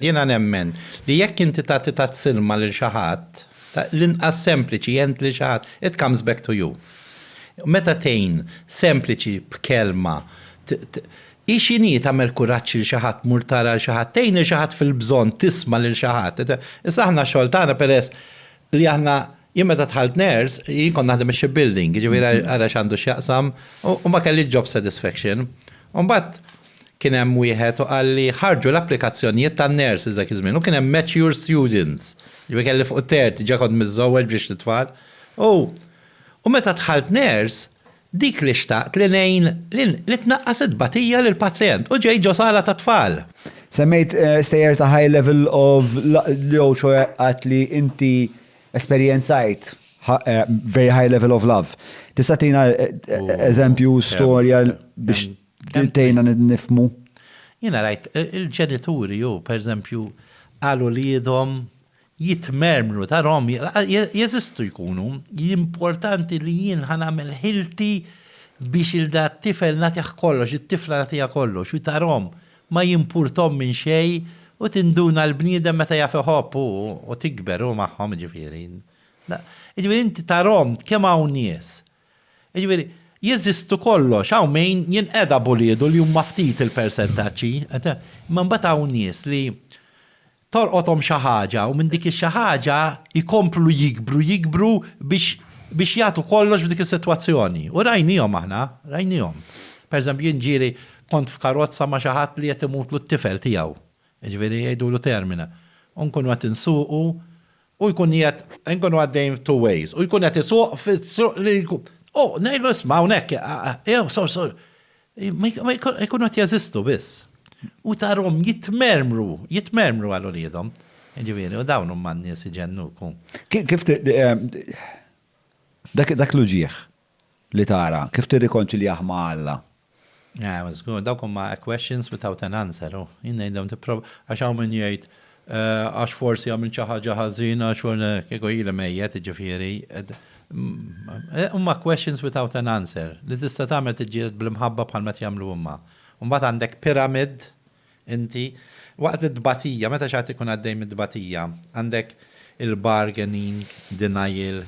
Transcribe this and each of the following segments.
Jiena nemmen li jekk inti tagħti tazz-ilma lil xi ħadd, l-inqas sempliċi għent lil xi ħadd, it comes back to you. Meta tgħin sempliċi b'kelma, hi x'inhi tagħmel kuraġġ lil xi ħadd, mur tara lil xi ħadd, tgħin lil xi ħadd fil-bżonn, tisma' lil xi ħadd. Issa aħna x-xogħol tagħna peress li aħna, jien meta dħalt nurse, jien kont naħdem ix-ship building, jiġifieri ara x'għandu x'jaqsam, u ma kellix job satisfaction. U mbagħad. Kien hemm wieħed u qalli ħarġu l-applikazzjonijiet tan-nurses dak iż-żmien u kien hemm mature students, jiġifieri kelli fuq it-terti, diġà kont miżżewweġ b'ġiex t-tfal. U u meta dħalt nurse, dik li xtaqt li ngħin li li tnaqqas it-tbatija lill-pazjent u ġejt ġo sala tat-tfal. Semmejt stejjer ta' high level of jew ċoe għidt li inti esperjenzajt very high level of love. Tista' tina eżempju, storja biex. Tgħinna nifhmu. Jiena rajt il-ġenituri jew pereżempju għal uliedhom jitmermru tarhom jeżistu jkunu importanti li jien ħa nagħmel ħilti biex il da t-tifel nagħtih kollox, it-tifla nagħtiha kollox u tarhom ma jimpurthom minn xejn u tinduna l-bniedem meta jaf iħobb hu u tikber hu magħhom jiġifieri. Jiġifieri inti tarhom kemm hawn nies Jiġifieri, jeżistu kollox, hawn min jinqeda b'uliedu li huma ftit il-persentaġġi, imma mbagħad hawn nies li tolqothom xi ħaġa u minn dik ix-xi ħaġa jkomplu jikbru, jikbru biex biex jagħtu kollox f'dik is-sitwazzjoni. U rajniehom aħna, rajniehom. Pereżempju, jien ġieli kont f'karozza ma' xi ħadd li qed imutlu t-tifel tiegħu, jiġifieri jgħidulu termina, u nkunu qed insuqu u jkun qiegħed, inkunu għaddejjin f'two ways, u jkun qed isuq fit-triq li jkun, u ngħidlu isma' hawnhekk, jew sor sor, jkunu qed jeżistu biss. U tarahom jitmermru, jitmermru għal uliedhom. Jiġifieri, u dawn huma n-nies iġennuk. Kif, dak l-uġigħ, li tara, kif tirrikonċiljah ma' Alla? Ew, żgur, dawk huma a questions without an answer, u jien ngħidilhom tipprova, għax hawn min jgħid, għax forsi għamilt xi ħaġa ħażina, kieku ili mejjet, jiġifieri, huma questions without an answer, li tista' tagħmel tiġġieled bl-imħabba bħal ma qed jagħmlu huma. U mbagħad għandek pyramid Inti, waqt it-tbatija, meta xi ħadd ikun għaddej mit-tbatija, għandek il-bargaining, denial,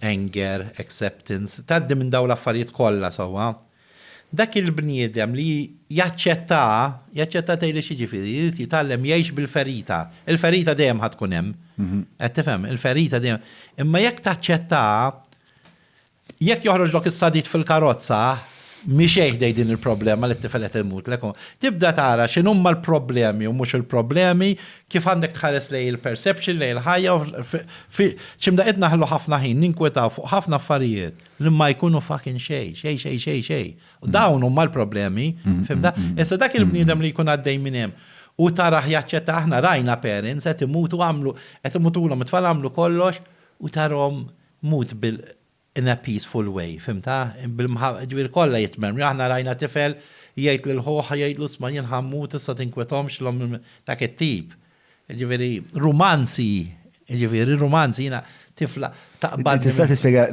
anger, acceptance, tgħaddi minn dawn l-affarijiet kollha sewwa. Dak il-bniedem li jaċċettaha, jaċċettaha tgħidli x'jiġifieri, jrid jitgħallem jgħix bil-ferita. Il-ferita dejjem ħa tkun hemm. Qed tifhem? Il-ferita dejjem. Imma jekk taċċettaha, Jekk joħroġlok is-sadid fil-karozza, miexej ħdejn din il-problema li t-tifel qed imutlek, tibda tara x'inhuma l-problemi u mhux il-problemi, kif għandek tħares lejn il-perception, lejn il-ħajja u fi x'imdaqqiet naħlu ħafna ħin ninkwetaw fuq ħafna affarijiet li ma jkunu fucking xejn, xejn xejn xejn xejn. U dawn huma l-problemi, fimta? Issa dak il-bniedem li jkun għaddej minn hemm u tarah jaċċetta aħna rajna parents qed imutu għamlu qed imutulhom it-tfal għamlu kollox u tarahom Mut bil in a peaceful way, fhimtha? Ġifieri kollha jitmermru. Aħna rajna tifel jgħid lil ħuh, jgħidlu isma' jien ħa mmut issa tinkwetomx, dak it-tip. Jiġifieri rumanzi, jiġifieri rumanzi, jiena tifla taqbadni. Tista' tispjega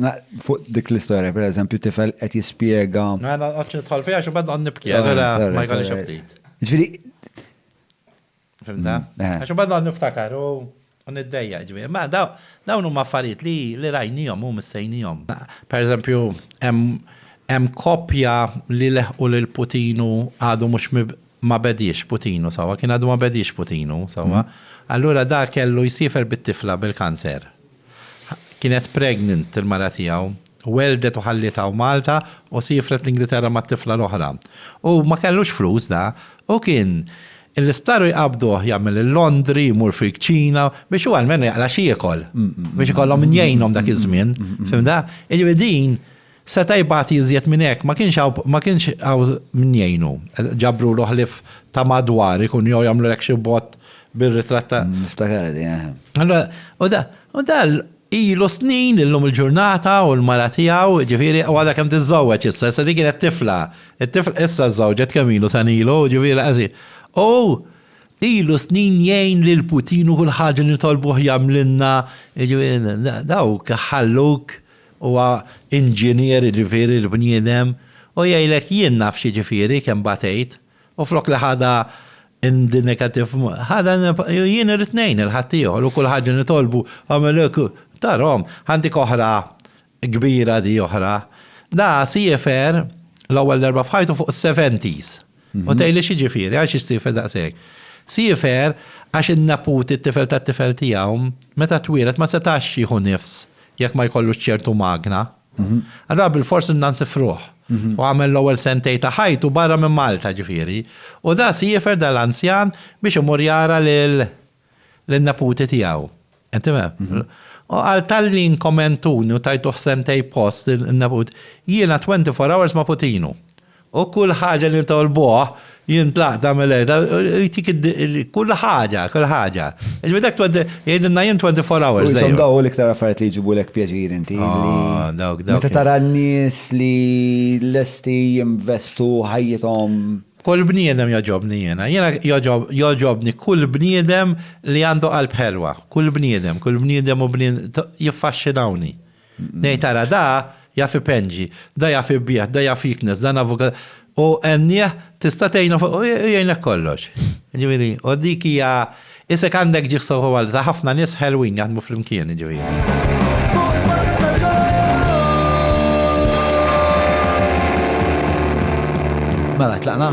fuq dik l-istorja, pereżempju tifel qed jispjega. Ma noqgħodx nidħol fiha għax imbagħad noqgħod nibki, allura ma jkollix aptit. Jiġifieri Fimta? Mm, eh. Għax imbagħad noqgħod niftakar u niddejja ġifieri. Ma dawn huma affarijiet li li rajnihom u missejnihom. Pereżempju, hemm koppja li leħqu lil Putinu għadu mhux ma bediex Putinu sewwa, kien għadu ma bediex Putinu sewwa. Mm. Allura da kellu jsifer bit-tifla bil-kanser. Kienet pregnant il-mara tiegħu. Welldet u ħalliet hawn Malta u siefret l-Ingilterra mat-tifla l-oħra. Hu ma kellux flus da. Hu kien l-isptar u jqabbduh jagħmel il-laundry, imur fil-kċina biex hu almenu jaqla' x'jiekol. Biex ikollhom min jgħinhom dak iż-żmien. Fhimtha? Jiġifieri din Seta' jbati iżjed minn hekk, ma kienx hawn ma kienx hawn min jgħinu. Ġabrulu ħlief ta' madwar ikun jew jagħmlulek xi bott bir-ritratt ta'. Niftakarha din, eħe. Allura, u da, u da ilu snin illum il-ġurnata u l-mara tiegħu, jiġifieri, u għadha kemm tiżżewweġ issa, issa din kienet tifla, it-tifla issa żżewġet kemm ilu sena ilu, jiġifieri l-qasi. U ilu snin jgħin lil Putin u kull ħaġa li nitolbuh jagħmlilna, jiġifieri, dawk ħalluk Huwa inġinier, jiġifieri l-bniedem, u jgħidlek jien naf x'jiġifieri kemm batejt, u flok li ħadha in the negative, ħadha in the, jien irrid ngħin lil ħaddieħor u kull ħaġa nitolbu agħmel hekk u, tarahom. Għandik oħra kbira di oħra. Da siefer l-ewwel darba f'ħajtu fuq is-seventies. U tgħidli x'jiġifieri, għal xi ssiefer daqshekk? Siefer għax in-neputi, t-tifel tat-tifel tiegħu, meta twieled ma setax jieħu nifs jekk ma jkollux ċertu magna. Allura bilfors ridna nsifruh. U għamel l-ewwel sentejn ta' ħajtu barra minn Malta, ġifieri. U da siefer, da l-anzjan, biex imur jara lil lin-neputi tiegħu. Qed tifhem? U qal talli inkomentuni u tajtuh sentejn post in-neput, jiena twenty four hours ma' Putinu. U kull ħaġa li nitolbuh, jien tlaqt nagħmel hekk, u jtik id-, kull ħaġa, kull ħaġa. Jiġifieri dak twenty, jgħidilna jien twenty four hours dejjem. U jisom dawn hu l-iktar affarijiet li jġibulek pjaċir inti li. Aw, dawk, dawk. Meta tara n-nies li lesti jinvestu ħajjithom. Kull bniedem jogħġobni jiena. Jiena jogħġobni kull bniedem li għandu qalb ħelwa. Kull bniedem, kull bniedem u jiffaxxinawni. Ngħid ara da jaf ipenġi, da jaf ibigħ, da jaf jiknes, dan avukat u għennieh tista' tgħinu u jgħinlek kollox. Jiġifieri, u dik hija Isek għandek ġieħ soħu għal ta' ħafna nies ħelwin jaħdmu flimkien, jiġifieri. Mela, tlaqna?